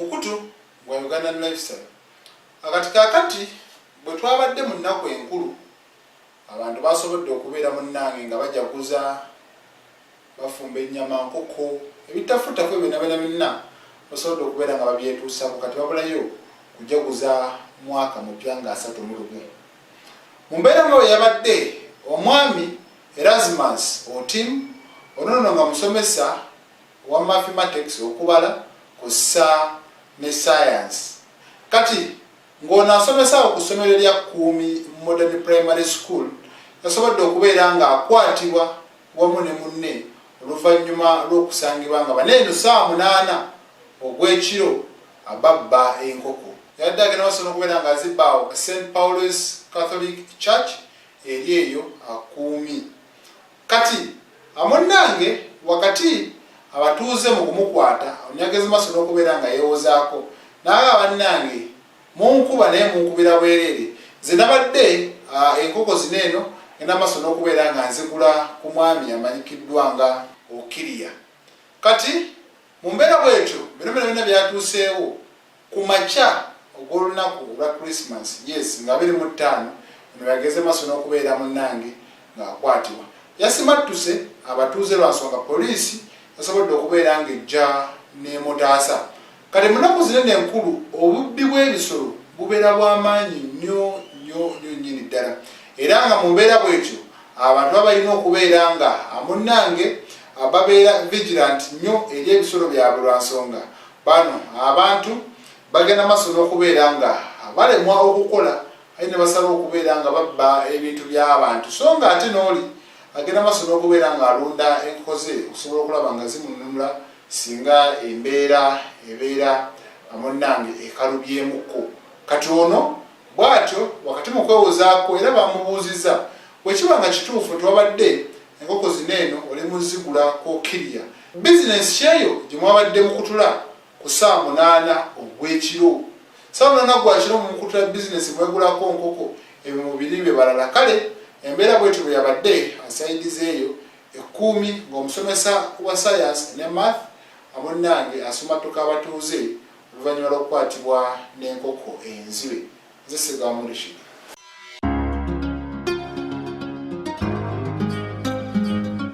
mukutu gwa ugandan lifestyle akati kakati bwe twabadde mu nnaku enkulu abantu basobodde okubeera munnange nga bajaguza bafumba ennyama nkoko ebitafuttafu ebyo nabena byonna basobodde okubeera nga babyetuusako kati babulayo kujaguza mwaka mupya nga asatu mu lumu mu mbeera nga bwe yabadde omwami Erasmus Otim, ono nno nga musomesa wa Mathematics, okubala, kwossa ne Science. Kati ng'ono asomesa awo ku ssomero lya Kuumi Modern Primary School, yasobodde okubeera ng'akwatibwa wamu ne munne oluvannyuma lw'okusangibwa nga bano eno ssaawa munaana ogw'ekiro babba enkoko. Yabadde agenda maaso n'okubeera ng'azibba awo ku Saint Paul's Catholic Church eri eyo akuumi kati amunnange wakati abatuuze mu kumukwata onyagezi maso n'okubeera nga yeewozaako n'aba bannange munkuba naye munkubira bwereere nze nabadde enkoko zino eno ngenda maso n'okubeera nga nzigula ku mwami amanyikiddwa nga okiriya kati mu mbeera bwetyo bino bino byonna byatuuseewo Ku makya ogw'olunaku olwa Christmas, yes, nga abiri mu ttaano, ono yageze maso n'okubeera munnange ng'akwatibwa. Yasimattuse abatuuze lwa nsonga poliisi yasobodde okubeera ng'ejja n'emutaasa. Kati mu nnaku zino eno enkulu, obubbi bw'ebisolo bubeera bwa maanyi nnyo nnyo nnyo nnyini ddala era nga mu mbeera bw'etyo abantu baba balina okubeera nga munnange babeera vigilant nnyo eri ebisolo byabwe lwa nsonga Bano abantu bagenda maso n'okubeera nga balemwa okukola aye ne basala okubeera nga babba ebintu by'abantu so nga ate n'oli agenda maso n'okubeera ng'alunda enkoko ze okusobola okulaba nga zimununula singa embeera ebeera amunnange ekalubyemukko kati ono bw'atyo wakati mu kwewozaako era bamubuuzizza bwe kiba nga kituufu nti wabadde enkoko zino eno oli muzigula ku kiriya Bizinensi kyeyo gye mwabadde mukutula ku ssaawa munaana ogw'ekiro. Ssaawa munaana gwa kiro mukutula bizinensi mwegulako nkoko, ebyo mubiri bye balala. Kale embeera bwetyo bwe yabadde asaidiza eyo e Kkuumi ng'omusomesa wa sayansi ne Math amunnange asumattuka abatuuze oluvannyuma lw'okukwatibwa n'enkoko enzibe. Nze Ssegawa Murishid.